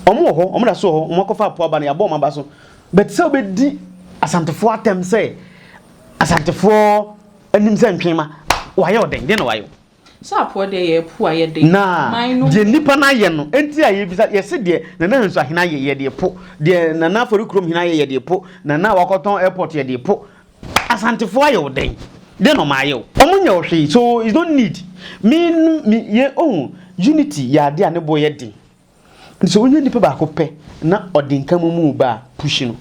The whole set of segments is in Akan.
Wɔn wɔ hɔ, wɔn da so wɔ hɔ, wɔn akɔfa apo aba no, yɛabɔ wɔn aba so. But sɛ wobɛdi Asantefoɔ atɛm sɛ Asantefoɔ anim sɛ ntwenma, wayɛ ɔdɛn? Deɛ na wayɛ o. Sɛ apoɔ deɛ yɛ apu a yɛ de. Na deɛ nnipa no ayɛ no, nti a yɛbisa, yɛse deɛ Nana Nsu Ahene ayɛ yɛ de po, deɛ Nana Afɔri Kurom Hene ayɛ yɛ de po, Nana a wakɔtɔn airport yɛ de po. Asantefoɔ ayɛ wo dɛn? Deɛ na wɔn ayɛ o. Wɔn nyɛ wo hwee, so is no need. Me, me, yɛ, ohu, unity yɛ adeɛ a ne boɔ yɛ den. Nti sɛ wonya nipa baako pɛ na ɔde nka mo mu ba a, push no.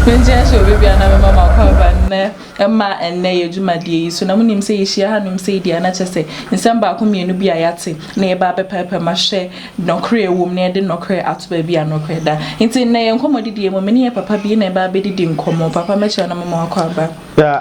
Nti ɛnso obi bia na mema makɔ aba nnɛ mma ɛnnɛ yɛ dwumadie yi so na mo nim sɛ yɛ hyia ha nom sei deɛ a na kyɛ sɛ nsɛm baako mmienu bi a yɛate na yɛba abɛpɛɛpɛ ma hwɛ nɔkorɛ ɛwɔ mu na yɛde nɔkorɛ ato baabi a nɔkorɛ da nti nnɛ yɛ nkɔmɔ didie mu me ne yɛ papa bi na ɛba abɛdidi nkɔmɔ papa mɛkyerɛ na mema wakɔ aba.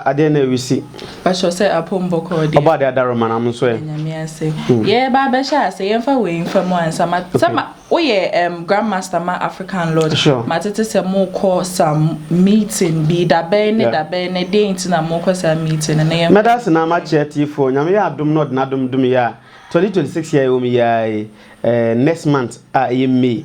Adeɛ na ɛresi Pastor sɛ apɔm bɔkɔɔ deɛ. Ɔbɔadeɛ adaroma nam nso ɛ. Nyame ase. Yɛɛba abɛhyɛ ase, yɛmfa wei mfa mu ansa. Ma sɛ ma woyɛ ɛm Grand Master ma African Lodge. Sure. Matete sɛ mokɔ some meeting bi, dabɛn ne dabɛn ne deɛn nti na mokɔ saa meeting no na yɛmfa. Mɛda ase na makyɛ atiefoɔ, Nyame yɛ adom na ɔde n'adom dom yɛ a, 2026 yi a yɛwɔ mu yi ara yi, ɛɛ next month a ɛyɛ May,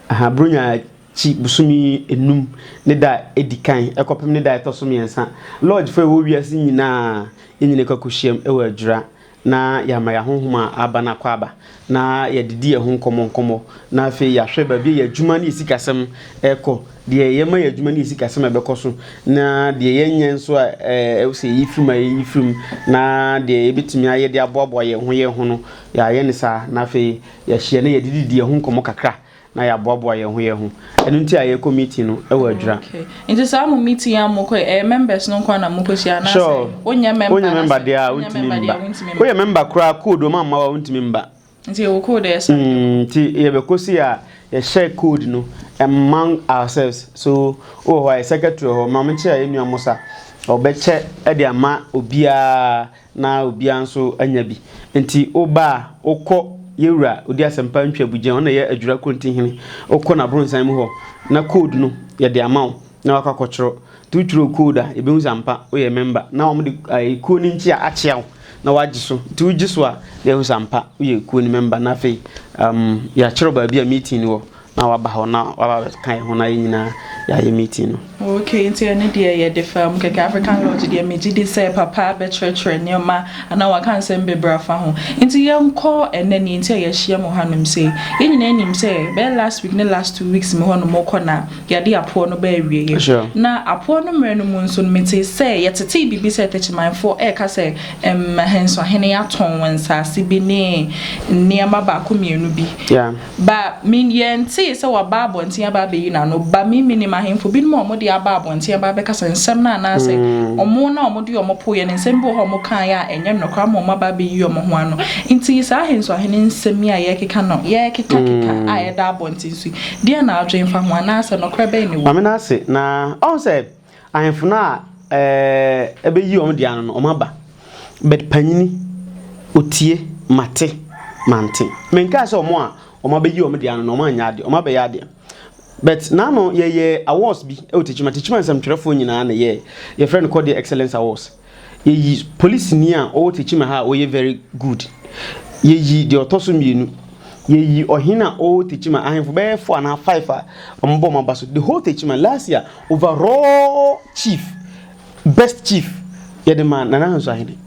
aha, Buronya Ci bosome nnum ne da a ɛdi kan kɔpem ne da a ɛtɔ so mmiɛnsa, lɔɔgyefo a ɛwɔ wiase nyinaa nyini kɔ akohyiam wɔ adwira na yɛama yɛn ahonhom a aba no akwaaba na yɛde di yɛn ho nkɔmmɔ nkɔmmɔ na afei yɛahwɛ baabi a yɛn adwuma ne yɛn sikasɛm rekɔ, deɛ yɛma yɛn adwuma ne yɛn sikasɛm a ɛbɛkɔ so na deɛ yɛnyɛ nso a ɛwɔ sɛ yɛyi firim a yɛyi firim na deɛ yɛbɛtumi ayɛ de aboaboa yɛn ho yɛn ho no yɛayɛ ne saa na afei yɛahyia na yɛde didi yɛn ho nkɔmmɔ kakra na yɛaboaboa yɛn ho yɛn ho. Ɛno nti a yɛkɔ meeting no wɔ adwira. Okay. Nti saa mo meeting a mo kɔ ɛyɛ members no nko ara na mo kɔ hyia anaasɛ sure. wonyɛ member wonyɛ member deɛ a wontumi mba. Woyɛ member koraa code wɔn amma wa wontumi mba. Nti yɛwɔ code ɛyɛ saa. Mm, nti yɛbɛkɔ si a yɛhyɛ code no among ourselves. So wɔ hɔ a yɛ secretary hɔ ma menkyɛ yɛ nua Musa. Ɔbɛkyɛ de ama obiara. na obiara nso anya bi. Enti woba a, wokɔ Yewura Odi Asɛmpa Ntwabugya a ɔno na ɛyɛ Adwira Korontihene, wokɔ n'abrɔnsan mu hɔ, na code no, yɛde ama wo na woakɔ akɔtwerɛ. Nti wotwerɛ wo code a, yɛbɛhu sɛ ampa woyɛ member, na wɔde ɛɛ kuo no nkyea akyea wo na woagye so. Nti wogye so a, na yɛhu sɛ ampa woyɛ kuo no member, na afei umm yɛakyerɛ wo baabi a meeting no wɔ. na waba hɔ na waba abɛka yɛn ho na yɛn nyinaa yɛayɛ meeting no. Okay, nti ɛno deɛ yɛde faa mu kɛkɛ. African Lodge deɛ megye di sɛ papa bɛkyerɛkyerɛ nneɛma anaa waka nsɛm bebree afa ho. Nti yɛnkɔ ɛnnɛ nea nti a yɛahyia mu hanom sei. Yɛn nyinaa nim sɛ bɛyɛ last week ne last two weeks mu hɔnom kɔ na yɛade apoɔ no baa awieeɛ. Sure. Na apoɔ no mmerɛ no mu nso no metee sɛ yɛtetee biribi sɛ Takyimanfoɔ ɛreka sɛ ɛm Ahensuahene atɔn wɔn nsaase bi ne nneɛma baako mmienu bi. Yeah. Ba, me, yɛntee sɛ waba abɔnten aba abɛyi n'ano. Ba, me, menim ahemfo binom a wɔde aba abɔnten aba abɛkasa nsɛm no anaasɛ wɔn na wɔde wɔn poeɛ no, nsɛm bi wɔ hɔ a wɔkaeɛ a ɛnyɛ nokorɛ ama wɔn aba abɛyi wɔn ho ano. Enti yi saa ahensoahene nsɛm yi a yɛrekeka no, yɛrekekakeka a ɛda abɔnten so yi, deɛn na wodwen fa ho, anaasɛ nokorɛ bɛn na ɛwɔ mu? Ahemfo no a ɛbɛyi wɔn de ano no, wɔaba. But panyini, ɔtie, mate, mante. Menkae sɛ wɔn a wɔabɛyi wɔn de ano no, wɔanyɛ adeɛ, wɔabɛyɛ adeɛ. But n'ano yɛyɛɛ awards bi wɔ Techiman. Techiman nsɛmtwerɛfoɔ nyinaa na ɛyɛɛ, yɛfrɛ no Kɔdeɛ Excellence Awards. Yɛyi polisini a ɔwɔ Techiman ha a ɔyɛ very good. Yɛyi deɛ ɔtɔ so mmienu. Yɛyi ɔhene a ɔwɔ Techiman, ahemfo bɛyɛ four anaa five a wɔbɔ wɔn aba so. The whole Techiman, last year, overall chief, best chief, yɛde maa Nana Hansu Ahene.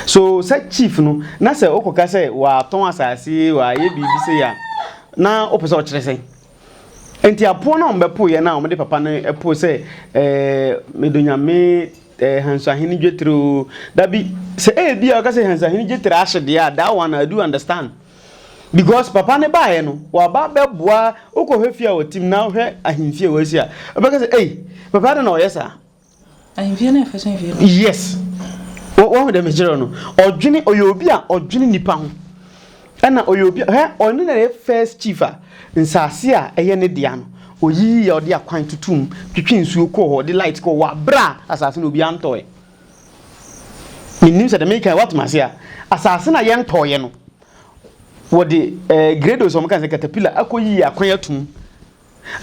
So sɛ chief no, na sɛ wokɔka sɛ watɔn asase, wayɛ biribi sei a, na wopɛ sɛ ɔkyerɛ sɛn? Enti apoɔ no a wɔbɛpoeɛ no a wɔde papa no poe sɛ, ɛɛ, me dɔ Nyame, ɛɛ, Hansuahene Dwetire o, da bi, sɛ ebia ɔka sɛ Hansuahene Dwetire ahye deɛ a, that one I do understand. Because papa no baeɛ no, waba abɛboa, wokɔhwɛ fie a wɔte mu na wohwɛ ahemfie a wɔasi a, wobɛka sɛ, ei, papa adɛn na ɔyɛ saa? Yes. Wo, wahu dɛ mekyerɛ no. Ɔdwene, ɔyɛ obi a ɔdwene nipa ho. Ɛna ɔyɛ obi a, hɛ, ɔno na ɛyɛ first chief a, nsaase a ɛyɛ ne dea no, ɔyiyi yɛ, ɔde akwan tutu mu, twetwe nsuo kɔɔ hɔ, ɔde light kɔɔ hɔ, wɔ aberɛ a asaase no obiara ntɔɔɛ. Mennim sɛ deɛ meka yi woate m'ase a. Asaase no a yɛntɔɔɛ no, wɔde, eh, grados a wɔka no sɛ caterpillar akɔyiyi akwan ato mu.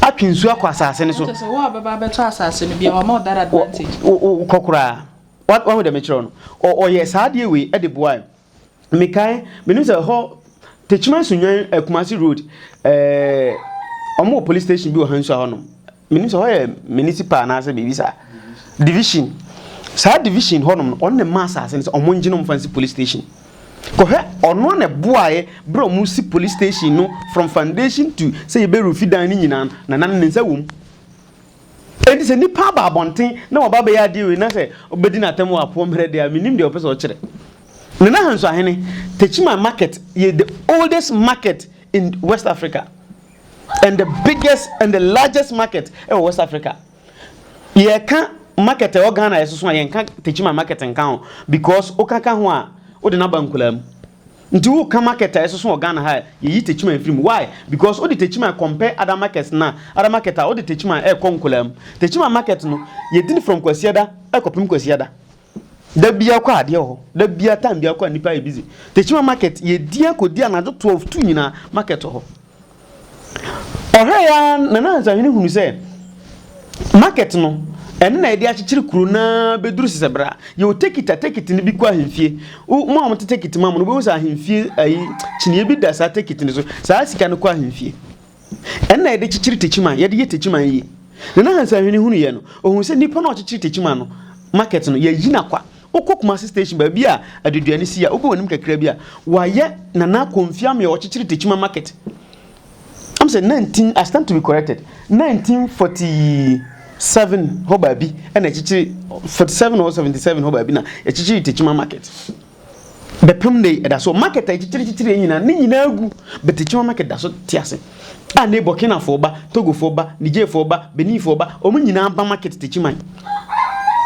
atwe nsuo akɔ asase no so. Sɛ wo a ɔbɛba abɛtɔ asase no bi a, wama wo that advantage. Kɔ koraa. Wahu deɛ mekyerɛ no? Ɔyɛ saa adeɛ wei de boae. Mekae, menim sɛ hɔ Techiman Sunnwan eh, Kumasi Road, eh, wɔn wɔ police station bi wɔ ha nso a hɔnom. Menim sɛ hɔ yɛ municipal anaasɛ biribi saa. Division. Saa division hɔnom no, wɔn na ɛma asase no sɛ wɔn ngye no mfa nsi police station. Kɔhwɛ ɔno a na ɛboaeɛ berɛ a wɔn si police station no from foundation to sɛ yɛbɛ rufi dan no nyinaa no na na ne nsa wɔ mu. Enti sɛ nipa aba abɔnten na waba bɛyɛ adeɛ wei na sɛ ɔbɛdi n'atɛm wɔ apoɔ mmerɛ deɛ a menim deɛ ɔpɛ sɛ ɔkyerɛ. Nana Hansuahene, Techiman market yɛ the oldest market in West Africa and the biggest and the largest market ɛwɔ West Africa. Yɛka market ɛwɔ Ghana yɛsoso a yɛnka Techiman market nka ho because woka ka ho a wode no aba nkuraa mu. Nti woka market a yɛsoso wɔ Ghana ha a yɛyi Techiman firi mu. Why? Because wode Techiman compare other markets no a other market a wode Techiman ɛrekɔ nkuraa mu. Techiman market no yɛdi no from Kwasiada ɛrekɔpem Kwasiada. Da bia kɔ adeɛ wɔ hɔ. Da bia time bia kɔ a nipa yɛ busy. Tekyima market yɛdi akɔdi anadwo 12 2 nyinaa market wɔ hɔ. Ɔhwɛ ya Nana Ansahwene hunu sɛ market no ɛno na yɛde akyekyere kuro na bɛduru sesɛ bra yɛwɔ tekita tekit no bi kɔ ahemfie mo a wɔte tekit ma mo no wobɛhu sɛ ahemfie ayi kyiniɛ bi da saa tekit no so saa sika no kɔ ahemfie Ɛnna yɛde kyekyere takyiman, yɛde yɛ takyiman yi. Na na Hansa Hwene hunu yɛ no, ohun sɛ nipa no a ɔkyekyere takyiman no, market no, yɛayi no akwa. Wokɔ Kumasi station baabi a aduduan no si a, wobɔ w'anim kakra bi a, wɔayɛ Nana Komfi Amee a ɔkyekyere takyiman market. Am sɛ 19, I stand to be corrected, 1947 hɔ baabi na ɛkyekyere, 47 or 77 hɔ baabi na ɛkyekyere takyiman market. Bɛpem nnɛ yi, ɛda so. Market a ɛkyekyere-kyekyere yɛn nyinaa, ne nyinaa agu. But Akyinnye Market da so te ase. A nnɛ yi Burkinafoɔ ba, Togofoɔ ba, Nigerfoɔ ba, Beninfoɔ ba, wɔn nyinaa ba market Techiman.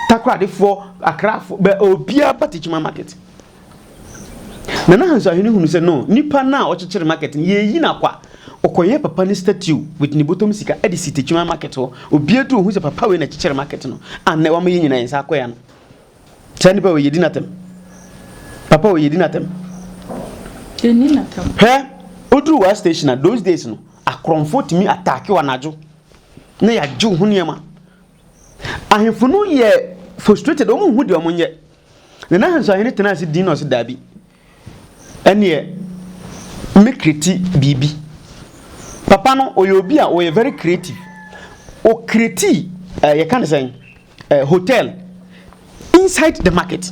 Takoradefoɔ, Accrafoɔ, bɛ, obiara ba Techiman market. Nana Hanso Ahene hunu sɛ, no, nipa no a ɔkyekyere market no, yɛreyi no akwa. Ɔkɔyɛɛ papa no statue with ne bɔtɔm sika de si Techiman market hɔ. Obiara duru hɔ hu sɛ papa wei na ɛkyekyere market no, a nnɛ wama yɛn nyinaa yɛn nsa akɔ yɛn ano. Kyɛ nipa wɔ yɛdi n'atɛm papa wɔ yɛdi n'atɛm. Yɛni n'atɛm. Hwɛ oduru wa station a those days no akorɔmfo tumi ataake wɔ anadwo na yɛagye wo ho nneɛma. Ahemfo no yɛ frustrated wɔn nhu deɛ wɔn nyɛ. Nana Ahansu Ahene tena ase din na ɔsi daabi. Ɛneɛ mɛ kreti biribi. Papa no ɔyɛ obi a ɔyɛ very creative. Ɔkreti eh, yɛka ne sɛn eh, hotel inside the market.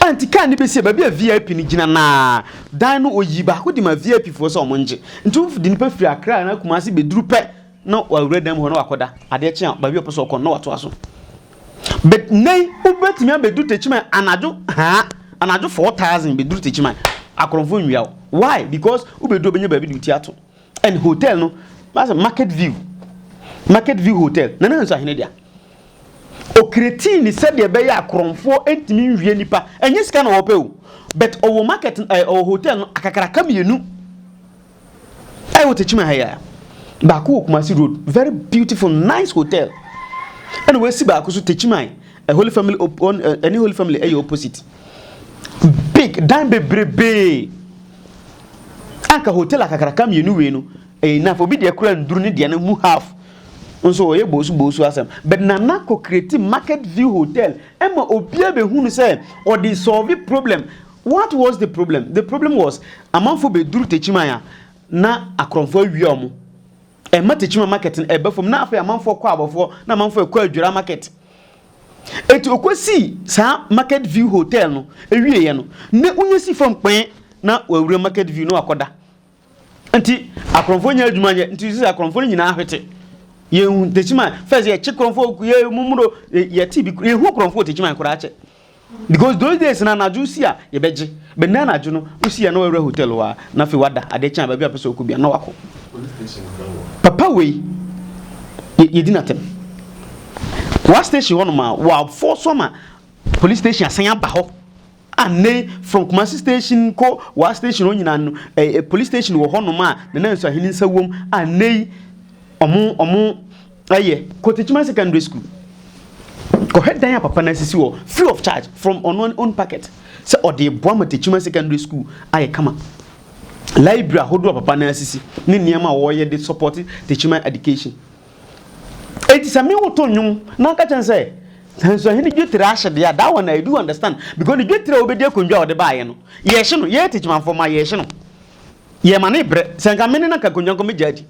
A nti kaa ne bɛsi baabi a VIP no gyina naa dan no ɔyi baako de ma VIP foɔ sɛ ɔmo ngye. Nti wodi nipa firi Accra na Kumasi bɛduru pɛ na wawura dan mu hɔ na wakɔda adeɛ kye a baabi a ɔpɛ sɛ ɔkɔ no na watoa so but nnɛn wobɛtumi abɛdu tekyiman anadwo haa anadwo 4000 bɛduru tekyiman akorɔmfo nwia wo why because wobɛdu ɔbɛnya baabi de wo ti ato and hotel no masɛ market view market view hotel na na nso ahene dea ɔkretii ne sɛdeɛ ɛbɛyɛ akorɔmfoɔ ntumi nwie nipa ɛnyɛ sika na wɔpɛ o but ɔwɔ market ɛɛ eh, ɔwɔ hotel no akakraka mmienu Ɛyɛ wɔ Tekyima ha yi a. Baako wɔ Kumasi road, very beautiful nice hotel. Ɛna wɔasi baako so Tekyima a Holy Family ɛne Holy Family ɛyɛ opposite. Big dan bebrebee. Anka hotel akakraka mmienu wei no ɛyɛ enough. Obi deɛ kura nduru ne deɛ no mu half. Nso ɔyɛ boosu boosu asɛm. But Nana kɔ create market view hotel ɛma obiara bɛhunu sɛ ɔde solve problem. What was the problem? The problem was amanfoɔ bɛduru Techiman a na akorɔmfoɔ awia wɔn. Ɛma Techiman market no ɛba fam na afei amanfoɔ kɔ abɔfoɔ na amanfoɔ ɛkɔ adwira market. Eti ɔkɔsii saa market view hotel no ɛwieɛ no na wonya si fam kpɛn na wawura market view na wakɔda. Nti akorɔmfoɔ nyɛ adwuma nyɛ nti sisi akorɔmfoɔ no nyinaa ahwete yɛn tekyima fɛs yɛkye korɔmfoɔ yɛ mumuro yɛte bi yɛhu korɔmfoɔ tekyima koraa kyɛ because those days na anadwo si a yɛbɛgye bɛnna anadwo no wosi a na wɔawura hotel hɔ a na afei wada adeɛ kyɛn a baabi a pɛ sɛ ɔkɔ bia na wakɔ papa wei yɛdi no atɛm wa station hɔ nom a wɔafɔ so ama police station asan aba hɔ A nnɛ yi from Kumasi station kɔ Wa station hɔ nyinaa no ɛɛ police station wɔ hɔnom a Nana Nsuahene nsa wom a nnɛ yi wɔn wɔn ɛyɛ Kotekyima secondary school. Kɔhwɛ dan a papa no asisi hɔ free of charge from ɔno ne own packet sɛ ɔde reboa ma Tekyima secondary school ayɛ kama. Library ahodoɔ a papa no asisi ne nneɛma a wɔreyɛ de support Tekyima education. Enti sɛ me wo to nnwom na ɔka kyerɛ no sɛ nanso ɛhene dwetire ahye deɛ a that one I do understand because ne dwetire a wɔbɛdi akonnwa a wɔde baeɛ no yɛhye no yɛyɛ techimanfoɔ ma yɛhye no yɛma ne brɛ sɛ nka mene na nka akonnwa nkɔ mɛgya adi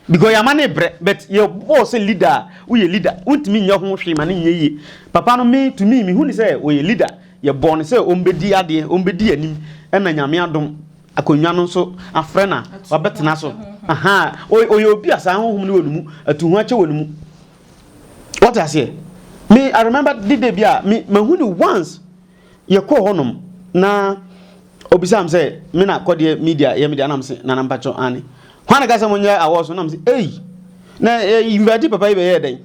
because yɛama ne brɛ but yɛbɔɔ sɛ leader a woyɛ leader wontumi nyɛ ho hwee ma ne nyɛ yie papa no me to me mehu ne sɛ wɔyɛ leader yɛbɔɔ no sɛ ɔmbɛdi adeɛ ɔmbɛdi anim ɛna nyame adom Akonnwa no nso afrɛ na wabɛtena so. Ahaa, ɔy ɔyɛ obi a saa honhom no wɔ ne mu, atu ho akyɛ wɔ ne mu. Wate aseɛ? Me, I remember de da bi a, me, mahu no once, yɛkɔɔ hɔnom, na ɔbisaa me sɛ, me na kɔdeɛ media yɛ me deɛ, na me se, Nana mpakyɛ, aane. Hwan na ɛka sɛ monyɛ awɔɔso? Na me se, ei! Na yɛ invite papa yi bɛyɛɛ dɛn?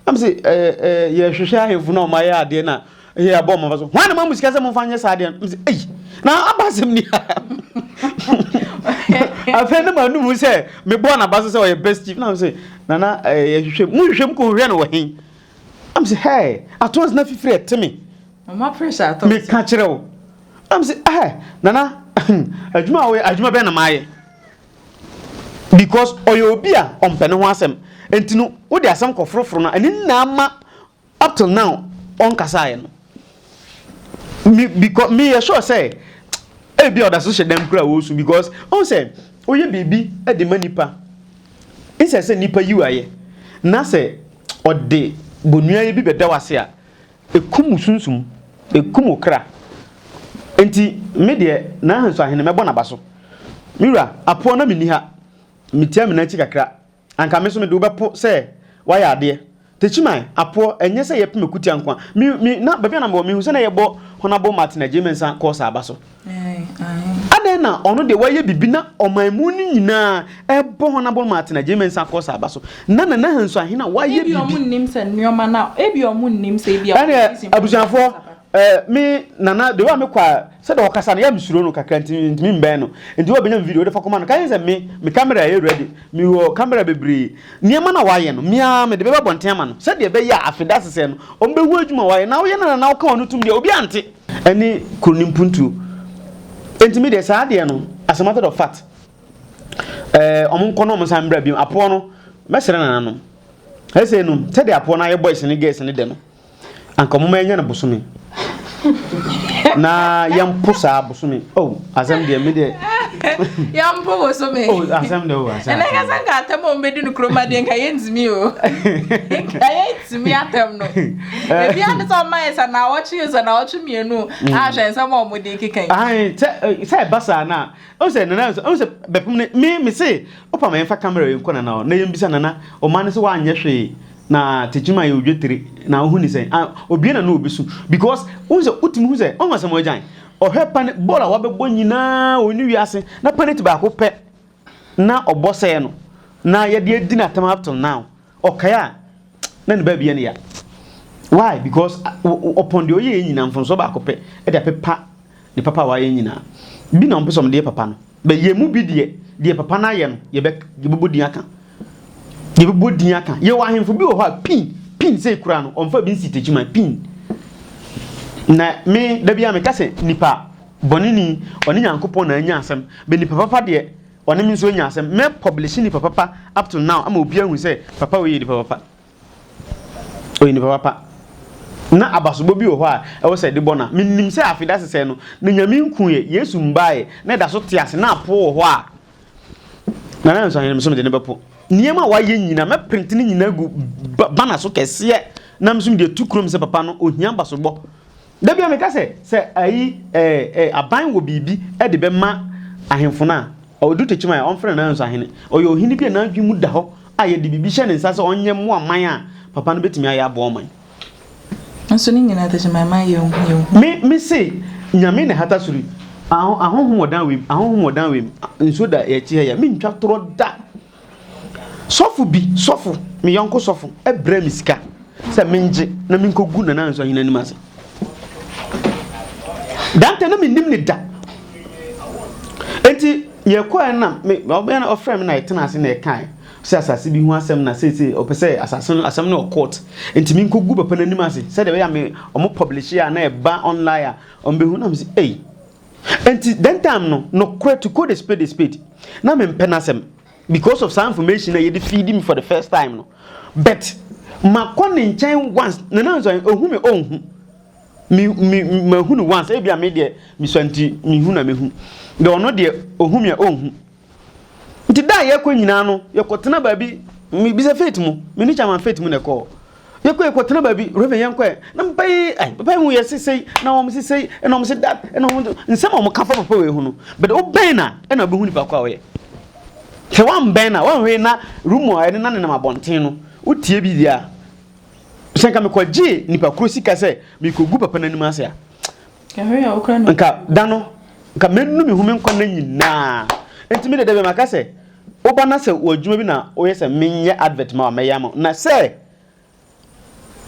Na mese, ɛɛ, ɛɛ, yɛhwehwɛ ahemfo no a wɔayɛ adeɛ no a yɛabɔ wɔn aba so. Hwan na ma mo sika sɛ momfa nyɛ saa adeɛ no? Mese, ei, na aba asɛm ni ha. Afei na manum mu sɛ mebɔɔ n'aba so sɛ ɔyɛ best chief. Na mese, nana, ɛɛ, yɛhwehwɛ mu. Mohwehwɛ mu kɔhwehwɛ no wɔ he? Na mese, hɛɛ, atons na fifiri ɛte me. Mama pressure atons. Meka kyerɛ wo. Na mese, ɛɛ, nana, adwuma a woyɛ, adwuma bɛn na mayɛ? Because ɔyɛ obi a ɔmpɛ ne ho asɛm nti no wode asɛm kɔ foro foro no a ɛno na ama up till now ɔnkasaeɛ no. Me because me yɛ sure sɛ ebi a ɔda so hyɛ dɛm kura ɔresu because ɔn sɛ ɔyɛ biribi de ma nipa nsɛ sɛ nipa yiw ayɛ na sɛ ɔde bonuayɛ bi bɛda wase a Ɛkum wo sunsum, ɛkum wo kra. Enti me deɛ, n'ahansu ahene mɛbɔ n'aba so. Me wura, apoɔ na menni ha. Metia me nan akyi kakra. Anka me nso mede wo bɛpo sɛ woayɛ adeɛ. Techiman, apoɔ, ɛnyɛ sɛ yɛpem akutia nko ara. Me, me, na baabi a na mewɔ, mehu sɛ na yɛbɔ Honourable Martin Agyei Mensah kɔɔ saa aba so. Aane. Adɛn na ɔno deɛ wayɛ biribi na ɔmanmu no nyinaa rebɔ hɔn abɔn ma atena Gyirima nsa kɔ saa aba so na Nana Hansu ahe na wayɛ biribi. Ebia ɔmo nnim sɛ nnoɔma no a ebia ɔmo nnim sɛ ebia ɔmo nnim sɛ. Ɛneɛ abusuafoɔ ɛɛ me Nana the way a me kɔ a sɛdeɛ ɔkasa no yɛ a me suro no kakra nti me ntumi mbɛn no nti wo a bɛnya me video wo de fa kɔma no ka kyerɛ no sɛ me me camera yɛ ready me wɔ camera bebree nneɛma no a wayɛ no me ara me de bɛba abɔnten ama no sɛdeɛ ɛbɛyɛ a afe dasesɛ no ɔmo bɛhu adwuma a wayɛ na woyɛ no Nana woka w'ano tom deɛ obiara nte. Ɛne kuro no mpuntuo. Enti me deɛ saa deɛ no as a matter of fact ɛɛ eh, wɔn nkɔ na wɔn nsa mbra bi apoɔ no mɛsrɛ nana nom ɛsɛ nom sɛdeɛ apoɔ no ayɛ boys ne girls ne dɛ no anka wɔn mɛnyɛ no bosome na yɛn po saa bosome oh asɛm deɛ me deɛ yɛn po bosome oh asɛm deɛ oh asɛm ɛnna kasa nka atɛm a wɔn bɛ di no kuroma deɛ nka yɛn ntumi o nka yɛn. tumi atɛm no ebi ade sɛ ɔma yɛ sɛ naawɔtwe yɛ sɛ naawɔtwe mmienu mm. ahwɛ nsɛm a wɔde keka yi. sɛ sɛ ɛba saa na ɔn sɛ nana nso ɔn sɛ bɛpem ne me me se ɔpa ma yɛnfa kamera yɛn kɔ nana na yɛn bisa nana ɔma ne sɛ wanyɛ hwee na tekyima yɛ odwe tiri na ɔho ne sɛn obie na no obi so because ɔn sɛ wotumi hu sɛ ɔn asɛm ɔgyan ɔhwɛ pane bɔɔl a wabɛbɔ nyinaa wɔ ne wiase na paneti baako pɛ na ɔbɔ sɛɛ no na yɛde adi n'atam up till now. Ɔkae a, na ne baabi yɛ no ya. Why? Because ɔpɔn deɛ ɔyɛɛ nyinaa mfomsoɔ baako pɛ de apepa ne papa a wayɛ nyinaa. Bi na wɔpɛ sɛ wɔde yɛ papa no. Bɛ yɛn mu bi deɛ, deɛ papa no ayɛ no, yɛbɛ yɛbɛbɔ din aka. Yɛbɛbɔ din aka. Yɛwɔ ahemfo bi wɔ hɔ a pin, pin sei koraa no, wɔmfa bi nsi takyiman, pin. Na me, da bi a meka sɛ nipa bɔne ni, ɔne Nyankopɔn na anya asɛm. Bɛ nipa papa deɛ, Ɔne me nso anya asɛm. Mɛ publishe nipa papa up till now ama obiara ahu sɛ papa wei yɛ nipa papa. Ɔyɛ nipa papa. Na abasobɔ bi wɔ hɔ a ɛwɔ sɛ yɛde bɔ no a, menim sɛ afe da sesɛɛ no, na Nyame nkuuɛ, Yesu mbaeɛ, na ɛda so te ase, na apoɔ wɔ hɔ a Nana Nso Ahene nso mede no bɛpo. Nneɛma a wayɛ nyina, mɛ print ne nyina agu banner so kɛseɛ, na me nso mede atu kurom sɛ papa no, ɔhia abasobɔ. Da biara meka sɛ, sɛ ayi ɛɛ ɛɛ aban wɔ biribi de bɛma ahemfo no a, ɔdu Tekyima a, ɔmfrɛ no Nanso Ahene. Ɔyɛ ɔhene bi a n'adwene mu da hɔ a yɛde biribi hyɛ ne nsa sɛ ɔnyɛ mmoa man a, papa no bɛtumi ayɛ aboa ɔman. Nanso ne nyinaa Tekyima mma yɛnhu yɛnhu. Me, me se, Nyame na ɛhata soro yi. Ahonhom wɔ dan wei mu, ahonhom wɔ dan wei mu, nsuo da yɛn akyi ha yi a, mentwa torɔ da. Sɔfo bi sɔfo, me yɔnko sɔfo, brɛɛ me sika sɛ mengye na menkogu Nana Ansu Ahene anim ase. Dante na mennim ne da. Enti yɛkɔɛ na me ɔbɛn na ɔfrɛ me na yɛtena ase na yɛkae sɛ asase bi ho asɛm na sɛ sɛ ɔpɛ sɛ asase no asɛm no wɔ court. Enti menkogu papa n'anim ase sɛdeɛ ɛbɛyɛ a me ɔmo publish a na ɛba online a ɔmo behu na mese ei Enti that time no nokorɛ to call a spade a spade na me mpɛ n'asɛm because of saa information a yɛde feed me for the first time no but makɔ ne nkyɛn once na na nso ehu me ɔnhu me me mahu no once ebi a me deɛ misua nti mehu na mehu deɛ ɔno deɛ ohu me a ɔnhu. Nti da a yɛkɔ nyinaa no, yɛkɔtena baabi, mebisa Faith mu, me ne Chairman Faith mu na ɛkɔɔ. Yɛkɔ yɛkɔtena baabi, Reverend yɛnkɔɛ, na papa yi, ai, papa yi ho yɛ se sei, na wɔn se sei, ɛna wɔn se dat, ɛna wɔn se, nsɛm a wɔka fa papa wei ho no, but wobɛn no a, ɛna wobɛhu nipa ko a ɔyɛ. Sɛ woambɛn no a, woanhwɛ yi na room a ɛne na nenam abɔnten no, wotie bi deɛ a, sɛ nka mekɔgyee nipa koro sika sɛ mekɔgu papa no anim ase a, nka da no nka mɛnu me ho me nkwa nna nyinaa nti me dɛdɛ bɛ maka sɛ woba na sɛ wɔ adwuma bi na woyɛ sɛ menyɛ advert ma wa mɛyɛ ama na sɛ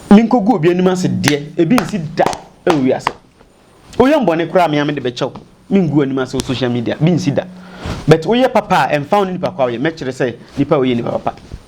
menkɔgu obi anim ase deɛ ebi nsi da ɛwɔ wiase woyɛ mbɔne koraa mea mede bɛkyɛw mengu anim ase wɔ social media bi nsi da but woyɛ papa a ɛmfa wo ne nipa kwa woyɛ mɛkyerɛ sɛ nipa woyɛ nipa papa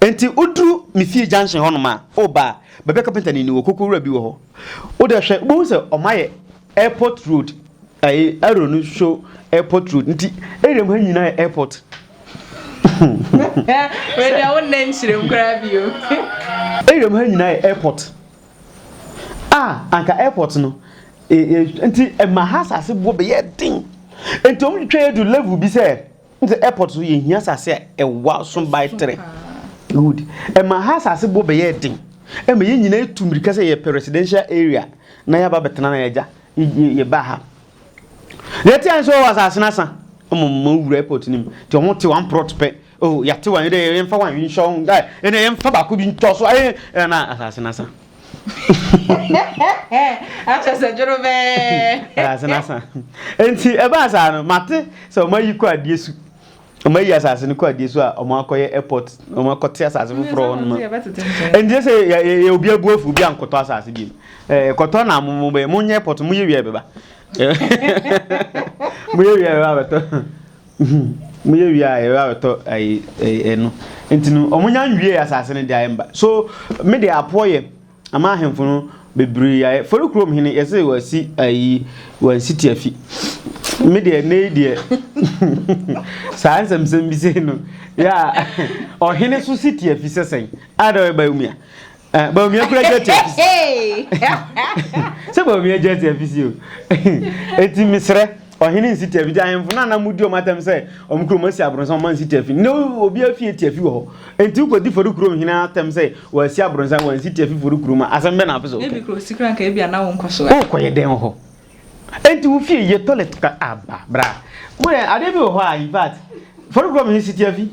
Enti woduru me fie junction hɔnom a, o ba a, baabi a kapenta no ni wɔ koko wura bi wɔ hɔ. Wode hwɛ, wobɛhu sɛ wɔayɛ airport road, ɛyi, arrow no show airport road. Nti area mu ha nyinaa yɛ airport. Wei deɛ wo nna nkyerɛm koraa bio. Area mu ha nyinaa yɛ airport. A, anka airport no, e, e, nti ɛma ha asase boɔ bɛyɛ den. Nti wɔn twitwa yɛ du level bi sɛ, Sɛ airport so yɛhia asase a ɛwa so by tere. Good. Ɛma ha asase boɔ bɛyɛ den. Ɛma yɛn nyinaa etu mmirika sɛ yɛpɛ residential area na yɛaba bɛtena na yɛgya yɛba ha. Deɛ ɛte ayɛ sɛ ɔwɔ asase no asa. Ɛma mo wura airport no mu. Nti wɔn te wɔn prot pɛ. Oh yɛate wɔn yɛde yɛmfa wɔn nhyɛ wɔn guy. Ɛna yɛmfa baako bi ntɔ so. Ɛna asase no asa. akyɛ sɛ dwono bɛɛ ase na sa nti ɛbaa saa no mate sɛ ɔma yi kɔ adeɛ su ɔma yi asase no kɔ adeɛ su a ɔma akɔyɛ airport ɔma akɔte asase foforɔ hɔ noma ɛnti sɛ yɛ obi abu afu obi ankɔtɔ asase bi kɔtɔ na mo mo bɛyɛ mo nyɛ airport mo yɛ wia bɛba mo yɛ wia bɛba bɛtɔ Mo yɛ wie a yɛbɛ abɛtɔ ayi ɛno nti no wɔn nya nwie asase no de ayɛ mba so me de apoɔ yɛ ama ahemfo no bebree ayɛ fɔri kurom hene yɛsɛ wɔasi ayi wɔasi ti afi me deɛ ne yi deɛ saa nsɛmsɛm bi sei no yɛ a ɔhene so si ti afi sɛsɛn a dɛ ɔyɛ ba yɛ mu a Ah, ba omi akura gyati afisi. Sɛ ba omi gyati afisi o. Eti mesrɛ ɔhene nsi tiafi ti ahemfo no anam di ɔmo atam sɛ ɔmo kurom asi abrɔnsan ɔmo ansi tiafi na obi afie tiafi wɔ hɔ enti wokɔdi fɔri kurom hene atam sɛ wɔasi abrɔnsan wɔansi tiafi fɔri kurom a asɛm bɛ na apɛ sɛ ɔka. Ebi kuro sikra nka ebi ana wo nkɔsoa. Wokɔyɛ dɛn wɔ hɔ? Enti wo fie yɛ toilet ka aba bra. Mo yɛ ade bi wɔ hɔ a in fact fɔre kura mi si tiafi.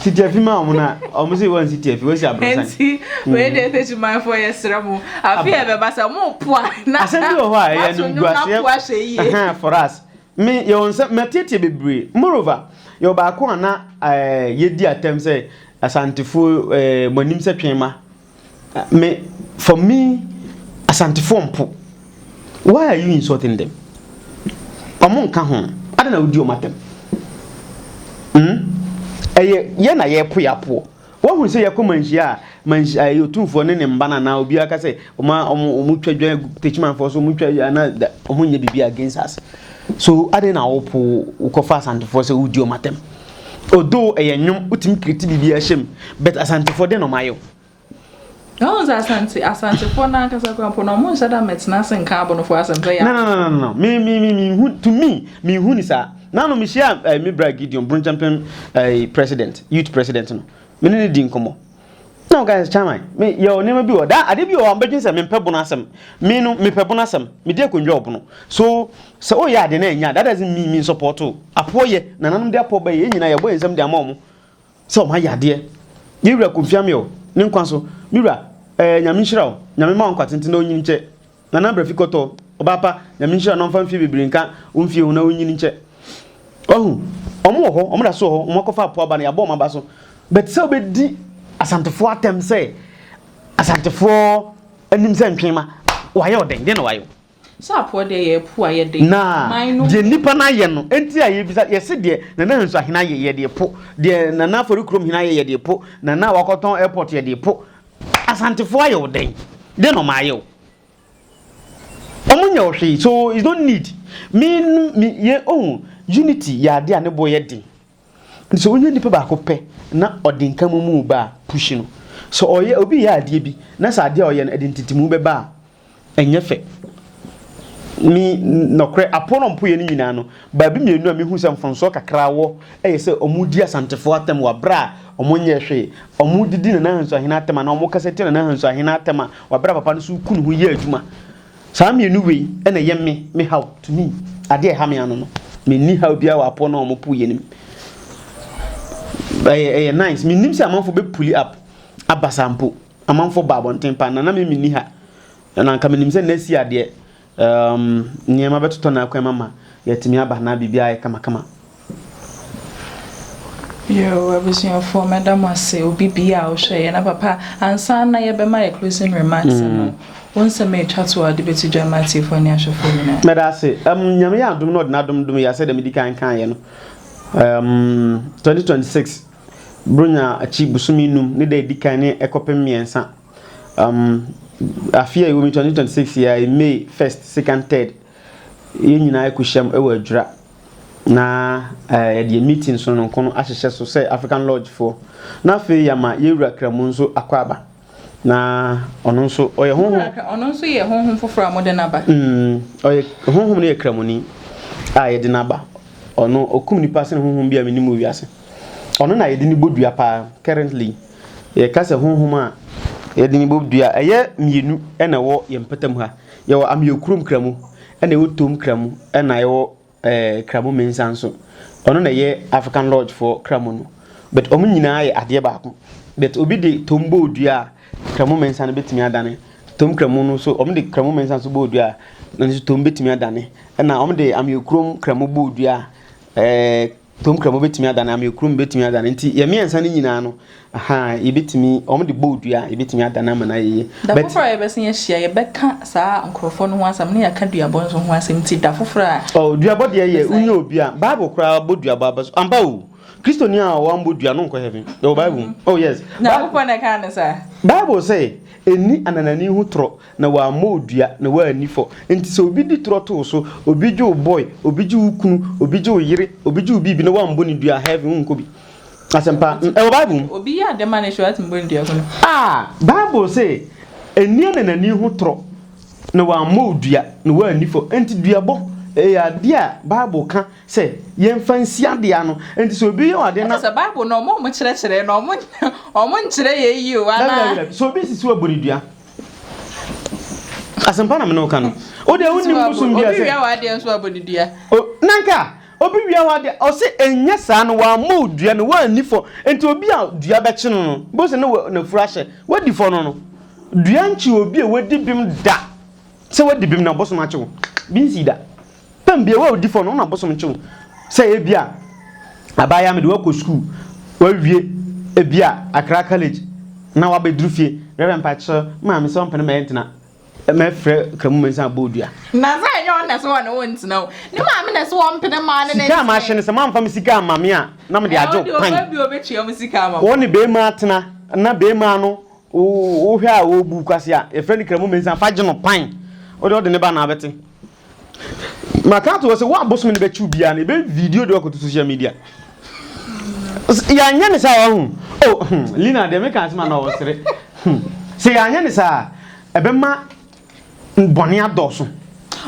Si tiafi ma wɔn na wɔn si wɔn si tiafi wɔn si abrosan. Enti wei mm. de fetch man fo yɛ srɛ mo. Afi yɛ bɛba sɛ mo po a na. Asɛm bi wɔ hɔ a ɛyɛ no gu aseɛ. For us me yɛ wɔn sɛ mɛtietie bebree moreover yɛ baako a na ɛɛ eh, yɛ di atɛm sɛ asantefoɔ ɛɛ eh, mo anim sɛ twɛn ma. Me for me Asantefoɔ mpo why are you insulting them? Ɔmo nka ho adɛn na wodi ɔmo atɛm? Hmm? Ɛyɛ yɛ na yɛko yɛ apoɔ. Woahunu sɛ yɛkɔ manhyia a manhyia ɛyɛ otumfoɔ ne ne mba no anaa obiara ka sɛ ɔmo ɔmo ɔmo twa dwa techimanfoɔ so ɔmo twa anaa ɔmo nyɛ biribi against us. So adɛn na wopo wokɔfa Asantefoɔ sɛ wodi ɔmo atɛm? Although ɛyɛ nnwom, wotumi create biribiara hyɛ mu, but Asantefoɔ deɛ na wɔayɛ o. Na wɔn sɛ Asante, Asantefoɔ no ankasa koraa mpo no, wɔn nhyɛ da mɛtena ase nka Abonofoɔ asɛm sɛ yɛ. No, no, no, no, no, me, me, me, me, hu, to me, me hu ni saa. Nanu me hyia eh, me bra Gideon, Brunchampem eh, president, youth president no. Me ne ne di nkɔmɔ. Ɛna ɔka sɛ chairman me yɛ nneɛma bi wɔ da ade bi wɔ hɔ mbɛdwen sɛ mempɛ bono asɛm me no mepɛ bono asɛm medi akonnwa wɔ bono so sɛ woyɛ ade na ɛnya that doesn't mean me support o apoɔ yɛ nananom de apoɔ bɛyɛ yɛn nyinaa yɛbɔ yɛn nsɛm de ama wɔn sɛ wɔn ayɛ adeɛ yɛwura kɔmfiame o ne nkwa so me wura ɛɛ nyame nhyira o nyame ma wo nkwa tenten na ɔnyini nkyɛ Nana Brɛfi Kɔtɔ, ɔbaa pa, Nyame nhyira no ɔmfa mfie bebree nka wo mfie ho na ɔnyin nkyɛ. Wahu? Ɔmo wɔ hɔ, ɔmo da so wɔ hɔ, ɔmo akɔfa apo aba no, yɛabɔ ɔmo aba so. But sɛ wobɛdi Asantefoɔ atɛm sɛ Asantefoɔ anim sɛ ntwenma, wayɛ ɔdɛn? Deɛn na wayɛ wo? Sɛ apoɔ deɛ yɛ apu a yɛde man no ho. Na deɛ nnipa no ayɛ no nti a yɛbisa, yɛse deɛ Nana Hansuahene ayɛ yɛde po, deɛ Nana Afɔrikrom Hene ayɛ yɛde po, Nana a wakɔtɔn airport yɛde po, Asantefoɔ ayɛ wo dɛn? Dɛn na wɔayɛ wo? Wɔnyɛ wo hwee so you don't need me me yɛ ohu unity yɛ adeɛ a ne boɔ yɛ den. Nti sɛ wonya nipa baako pɛ na ɔde nka momu ba a push no. Sɛ ɔyɛ obi yɛ adeɛ bi na sɛ adeɛ a ɔyɛ no ɛde ntetemu bɛba a ɛnyɛ fɛ. Me, nɔkorɛ, aponopoeɛ no nyinaa no, baabi mmienu a mehu sɛ mfomsoɔ kakra wɔ yɛ sɛ wɔdi Asantefoɔ atɛm wɔ berɛ a wɔnyɛɛ hwee, wɔdidi Nana Ahansu Ahene atɛm anaa wɔkasa tia Nana Ahansu Ahene atɛm a wɔ berɛ a papa no nso reku ne ho yɛ adwuma. Saa mmienu wei na ɛyɛ me, me haw, to me, adeɛ a ɛha me ano no. Menni haw biara wɔ apono no a wɔpoeɛ no mu. Ɛyɛ, ɛyɛ nice. Mennim sɛ amanfoɔ bɛpuli up aba saa mpo. Amanfoɔ baa abɔnten paa, na na me menni ha, na anka menim sɛ nna si adeɛ, um, nneɛma bɛtotɔ na akwan mama yɛatumi aba, na biribiara ayɛ kamakama. Yoo, abusuafoɔ, mɛda mo ase, obi biara a ɔhwɛɛ yɛn, na papa, ansa na yɛbɛma yɛn closing remarks no, wo nsɛm a ɛtwa to a wode bɛto dwa ama atiefoɔ ne ahwɛfoɔ nyinaa. Mɛda ase. Um, Nyame yɛ adom na ɔde n'adom dom yɛ, sɛdeɛ medi kan kaeɛ no, um, 2026. Buronya akyi bosome nnum, ne da a ɛdi kan ne ɛkɔpem mmiɛnsa. Um, afe a ɛwɔ mu 2026 yɛ a May 1st, 2nd, 3rd. Yɛn nyinaa ɛkɔhyiam ɛwɔ Adwira. Na uh, yɛde meeting sononko no ahyehyɛ so sɛ African Lodge foɔ. Na afei yɛama yɛwura Kramu nso akɔ aba. Na ɔno nso, ɔyɛ honhom. Ɔno nso yɛ honhom foforɔ a mode no aba. Mm, ɔyɛ honhom no yɛ kramoni a yɛde no aba. Ɔno, ɔkum nipa sene honhom bi a menim wɔ wiase. Ɔno na yɛde no bɔ dua paa, currently. Yɛka sɛ honhom a yɛde no bɔ dua, ɛyɛ mmienu na ɛwɔ yɛn mpɔtam ha. Yɛwɔ ameɔkurom kramu, ɛna ɛwɔ tom kramu, ɛna ɛwɔ ɛɛ Kramu Mensah nso. Ɔno na ɛyɛ African Lodge foɔ Kramu no. But wɔn nyinaa yɛ adeɛ baako. But obi de Tom bɔ odua a, Kramu Mensah no bɛtumi adane. Tom Kramu no nso, wɔn de Kramu Mensah nso bɔ odua a, ɛno nso Tom bɛtumi adane. Ɛna wɔn de Ameokrom Kramu bɔ odua a, ɛɛ. Tomkramo bɛtumi adane, ameɛkurom bɛtumi adane, nti yɛ mmiɛnsa no nyinaa no, aha, yɛbɛtumi, wɔn de bɔɔ dua a, yɛbɛtumi adane ama no ayɛ yie. Da But- foforɔ a yɛbɛsan ahyia, yɛbɛka saa nkorɔfoɔ no ho asɛm ne yɛaka duabɔ nso ho asɛm, nti da foforɔ a, Oh, duabɔ deɛ yɛ, Bɛsan. wonyɛ obi a, Bible koraa bɔ duabɔ aba so. Ampa o, Kristoni a ɔambɔ dua no nkɔ heaven. Ɛwɔ Bible mu. Oh yes. Bi- Nyankopɔn na ɛkaa no saa. Bible sɛ, ɛnni ananani ho torɔ. na wammɔ wo dua, na woanni fɔ. Enti sɛ obi di torɔ to wo so, obi gye wo boy, obi gye wo kunu, obi gye wo yere, obi gye wo biribi na woammɔ no dua a, heaven wonkɔ bi. Asɛm pa. Mm, ɛwɔ Bible mu. Obi yɛ ade ma no hwɛ, watumi bɔ no dua hunu. Ah, Bible se, Nni ananani ho torɔ, na wammɔ wo dua, na woanni fɔ. Enti duabɔ, ɛyɛ ade a Bible ka sɛ yɛmfa nsi ade ano. Enti sɛ obi yɛ wo ade na. Ɛte sɛ Bible no, wɔn a wɔkyerɛkyerɛ no, wɔn, wɔn nkyerɛ yɛn yie o, Dabi, dabi, anaa? dabi. Sɛ obi sisi wo a, bɔ no dua. asɛmpa na mene woka no wode wonim bosom bia sɛ wia w'adeɛ nso abɔ ne dua nanka obi wia w'adeɛ ɔse ɛnyɛ saa no wammɔ wo dua no woanni fɔ nti obi a dua bɛkye no no bo sɛ ne nafuru ahyɛ wadi fɔ no no dua nkye obi a wadi bim da sɛ wadi bim na bosom akye wo bi nsi da Tam bia wo odi fɔ no na bosom kye wo sɛ ebia abaayaa mede wakɔ sukuu wawie ebia akra college na waba duru fie rɛbɛ mpakyɛ maame sɛ ɔmpene ma yɛ ntena mɛ frɛ kramu mɛ nsa abɔ odua. Na sɛ ɛnyɛ ɔno na ɛsɛ ɔne wo ntena o ne maame na ɛsɛ ɔmpene ma ɔne ne ntena. Sika a mahyɛ no sɛ mamfa me sika amma me a na mede agye wo pan. Wo ne bɛɛma atena na bɛɛma no wo hwɛ a ɔbu kwasea yɛfrɛ no kramu mɛ nsa fa gye no pan wode ɔde ne ba na abɛte maka ato hɔ sɛ wo a bosom no bɛkyew biara no ɛbɛ video de wakɔto social media yɛanyɛ ne saa wahu oh, hmm, lina deɛ meka asɛm ana ɔsere hmm. sɛ yɛanyɛ ne saa ɛbɛma bɔne adɔɔso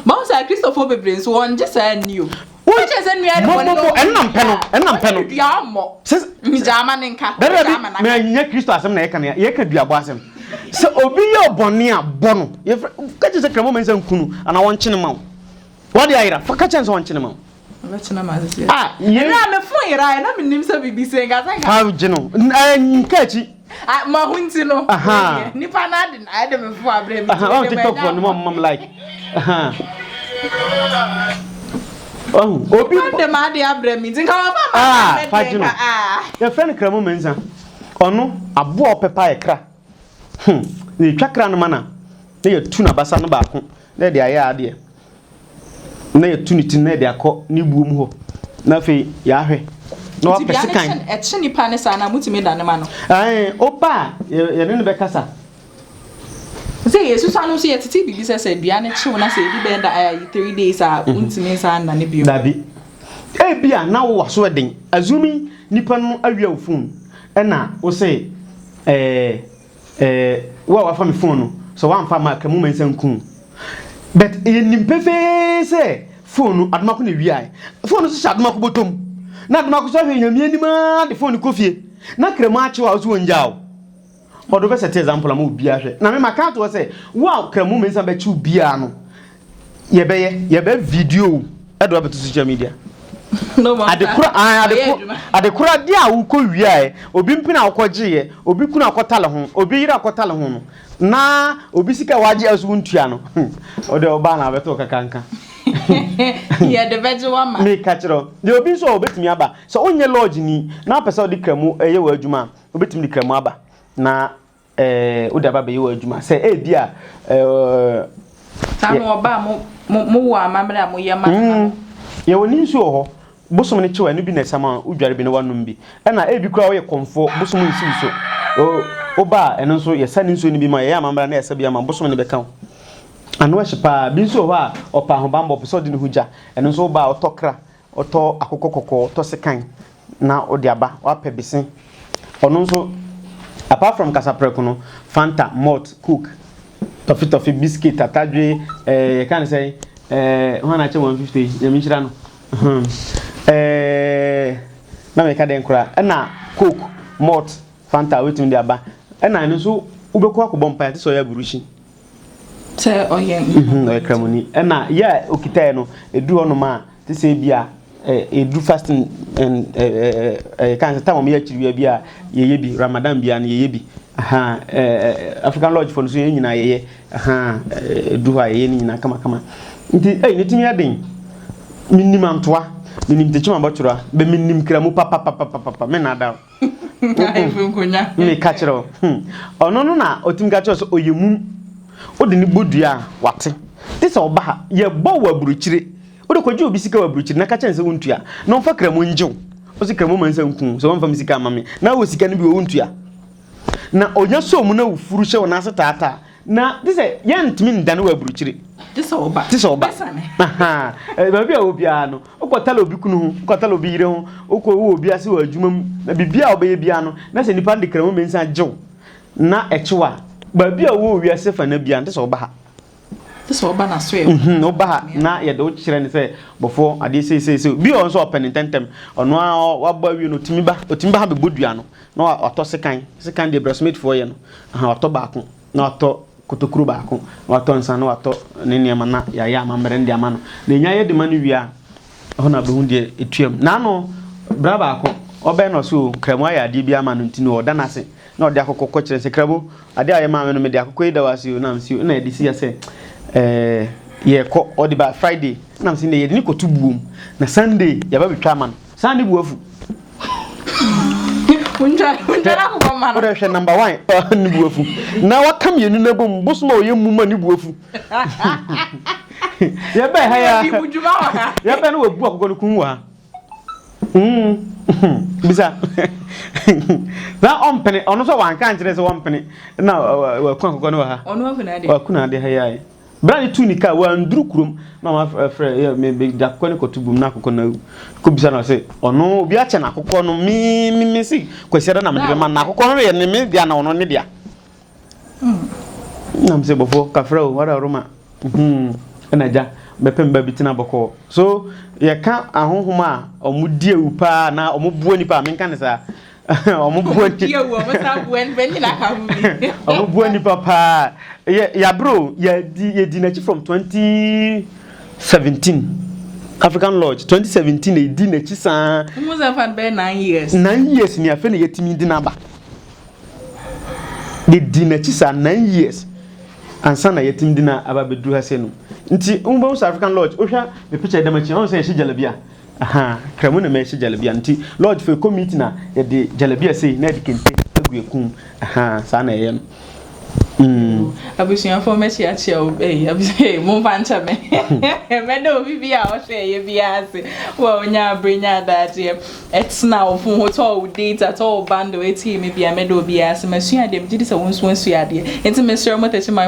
mahu sɛ kristofo bebree nso wɔngye saa nni o Wo kyɛ sɛ nua no bɔne no ɛnna mpɛ no ɛnna mpɛ no dua ɔmmɔ gyaa ma ne nka dada bi mɛ anyinya kristo asɛm na yɛka no yɛka dua bɔ asɛm sɛ obi yɛ ɔbɔne a bɔ no yɛfrɛ ka kyɛ sɛ kramo mɛ nsa nkunu ana wɔnkyene ma wo wɔde ayera fa ka kyɛ sɛ wɔnkyene ma wo Mɛkyena ma asese. Ah, yɛn. Ɛnna mefo yera, ɛnna menim sɛ biribi sɛ nka sɛ nka. Fa gye no. Nka akyi. Ah, ma ho nti no. Aha. Nipa na ade na ade me fo abre me. Aha, on TikTok for no mom like. Aha. Oh, obi ade ma ade abre me. Nka wa fa ma. Ah, fa gino. Ah. Your friend kra mo menza. Ono abo opepa e kra. Hmm. Ni twa kra no mana. Na ya tu na basa no ba ko. Na de aye ade. na yɛtu ne ti no na yɛde akɔ ne buo mu hɔ na afei yɛahwɛ na Nti wapɛ dua no sekan. kye ɛkye nipa no saa no a motumi dane ma no. Ae, woba a yɛ- yɛne no bɛkasa. Sɛ yɛsusua no nso yɛtete biribi sɛ sɛ dua no kyew na sɛ ɛdu bɛyɛ da ayi three days a wontumi nsan nnane bio. Dabi. Ebi a na wo waso ɛden. Assuming nipa no awia wo phone ɛna wo se ɛɛ. Eh wo a wafa me phone no sɛ wamfa amma a ka mu ma nsa nku wo but yɛnim pefee sɛ phone no Adomako na ɛwiaɛ. Phone no nso hyɛ Adomako bɔtɔ mu na Adomako nso ahwɛ Nyame anim aa de phone no kɔ fie na Kramu akye wo a wo nso wɔngyaa wo. Ɔde wobɛsɛte example ama obiara ahwɛ na me maka ato hɔ sɛ wo a Kramu Mensah bɛkye wo biara no yɛbɛyɛ yɛbɛ video ɛde wabɛto social media adekora adekora de a wokɔ wiaɛ obi mpena wokɔ gyeeɛ obi kunu akɔtale ho obi yere akɔtale ho no na obi sika wagye aso wo ntua no ɔde ɔbaa na abɛto kakanka yɛde bɛgye wama meka kyerɛ deɛ obi nso a obɛtumi aba sɛ wonyɛ lodge ni na apɛ sɛ wode kramu ɛyɛ wɔ adwuma a obɛtumi de kramu aba na Eh, wode aba bɛyɛ w'adwuma sɛ ebi a eh, saa na ɔba a mowɔ amammerɛ a moyɛ ma no mm, yɛwɔ ne nsuo wɔ hɔ bosom no kyew ɛno bi na ɛsam a wodware bi na woanom bi ɛna ebi koraa woyɛ kɔmfoɔ bosom nsiw so woba a ɛno nso yɛsa ne nsuo no bi ma yɛyɛ amammerɛ na yɛsa bi ama bosom no bɛka wo ano ahye paa bi nso wɔ hɔ a ɔpa ahobammɔ pɛ sɛ ɔde ne ho gya ɛno nso woba a ɔtɔ kra Ɔtɔ akokɔ kɔkɔɔ, ɔtɔ sekan na ɔde aba, wapɛ bese. Ɔno nso apart from kasaprɛko no, Fanta, malt, coke, tɔfetɔfe, biscuit, atadwe, eh, yɛka no sɛn, eh, hwan na akyɛ 150 yi, nyame nhyira no, hmm, eh, na meka dɛn koraa, ɛna coke, malt, Fanta, wobɛtumi de aba, ɛna ɛno nso wobɛkɔ akɔbɔ mpaeɛ, te sɛ ɔyɛ aburuhyi. Sɛ ɔyɛ nkramoni. Ɔyɛ nkramoni. Ɛna yɛ a okitae no, eduru hɔnom a, te sɛ ebi a eduru fasting ɛɛ kan sɛ tam a wɔyɛ akyiri bia bi a yɛyɛ bi, Ramadan bia no yɛyɛ bi. Ahaa ɛɛ African Lodge fo no nso yɛn nyinaa yɛyɛ. Ahaa eduru hɔ a yɛyɛ ne nyinaa kamakama. Nti ei ne tumi yɛ den. Menim antoa, menim tekyem abɔtwora, bɛ menim kramu papapapapapa, mennaadaa wo. meka kyerɛ wo hmm. ɔno no na ɔtumi ka kyerɛ sɛ ɔyɛ mum wode ne bɔ dua a wate te sɛ ɔba ha yɛbɔ wɔ aburokyire wode kɔgye obi sika wɔ aburokyire na ka kyerɛ sɛ wontua na ɔmfa kramu ngye wo ɔsi kramu ma nsa nku sɛ wɔmfa me sika ama me na wɔ sika no bi wɔ wontua na ɔnya sɔɔ mu na wofuru hyɛ wo n'ase taataa Na te sɛ yɛntumi ndane wɔ aburukyire. Te sɛ ɔba. Te sɛ ɔba. Bɛsane. Baabi a wɔ biara no, wokɔ tala obi kunu ho, wokɔ tala obi yere ho, wokɔ wowɔ obi ase wɔ adwuma mu, na biribiara a wobɛyɛ biara no, na sɛ nnipa no de kramu mmiɛnsa gye wo, na ɛkye wo a, baabi a wɔ wɔ wiase fana biara no, te sɛ woba ha. Te sɛ ɔba n'asoɛe hɔ. Mhm, woba ha na yɛde wo kyerɛ no sɛ, bɔfoɔ, adeɛ sei sei sei. Bi wɔ hɔ nso a ɔpɛ no ntɛmntɛm. Ɔno ara wabɔ awie no, ɔtumi ba, ɔtumi ba ha bɛbɔ dua no. na watɔ sekan, sekan deɛ brɛsmɛtfoɔ yɛ no, aha watɔ baako, na watɔ kotokuro baako, na watɔ nsa, na watɔ ne nneɛma na yɛayɛ amammerɛ no de ama no. Na ɛnya yɛ de ma no wie a, ɛhɔ na ɔbɛhu deɛ ɛtuam. Naano, bra baako, ɔbɛn na ɔse o, Nkramo ayɛ adeɛ bi ama no nti no ɔda no ase, na ɔde akokɔ kɔkyerɛ no sɛ, Kramo, adeɛ a woyɛ maa me no mede akokɔ yi da wo ase o, na mese o, na ɛde si ha sɛ ɛɛ yɛrekɔ, ɔde ba Friday, na mese nnɛ yɛde no kɔto buom, na Sunday yɛba bɛtwa ama no. saa ne bu afu wode hwɛ number one ne bu afu na waka mmienu no abom bosom a ɔyɛ mu ma ne bu afu yɛbɛn ha ya yɛbɛn no wabu akokɔ no kun wɔ ha hmm. bisa na ɔmpene ɔno sɛ wanka nkyerɛ sɛ wɔmpene na wakun akokɔ no wɔ ha wakun ade ha yɛae Bere a ne tu ne ka a wanduru kurom na wafrɛ yɛ me me de akokɔ ne kɔto bum na akokɔ na awu. Kɔbisa no sɛ ɔno obi akyɛ no akokɔ no me me me se Kwasiada na mede bɛma no na akokɔ no yɛ ne me dea na ɔno ne dea. Na me se bɔfoɔ kafra o wada woroma hmm ɛna agya bɛpɛ mba bi tena bɔkɔɔ. So yɛka ahonhom a wɔdi awu paa anaa wɔboa nipa a menka ne saa. Wɔn bua ni. Wɔn bua wɔn san bua nipa nyina aka ho bi. Wɔn bua nipa paa. Yɛ yabro yɛ di yɛ di n'akyi from twenty seventeen. African Lodge twenty seventeen yɛ di n'akyi saa. Wɔn sɛ nfa bɛyɛ nine years. Nine years ni afɛ na yɛ ti mi di n'aba. Yɛ di n'akyi saa nine years. Ansa na yɛ ti mi di n'aba bɛ duru ha sɛ no. Nti wɔn bɛ wɔn sɛ African Lodge. Ohwɛ mi picture dɛm akyi wɔn sɛ yɛ hyɛ jalabi a. Ahaa Kramo na mɛhyɛ jalabia no nti lodge fo ɛkɔ meet na yɛde jalabia sei na yɛde kente agu yɛ kum ahaa saa na ɛyɛ no. Mm. Abusuafoɔ mɛkyi akyɛ o ei abusua ei momfa nkyɛ me mɛda obi bi a ɔhwɛ ɛyɛ biara ase wo a wonya abere nya adagyeɛ ɛtena wo fon ho tɔ wo data tɔ wo bundle ɛtie me bia mɛda obiara ase masua adeɛ megye di sɛ wo nso asua adeɛ nti mesrɛ mo tɛkyi man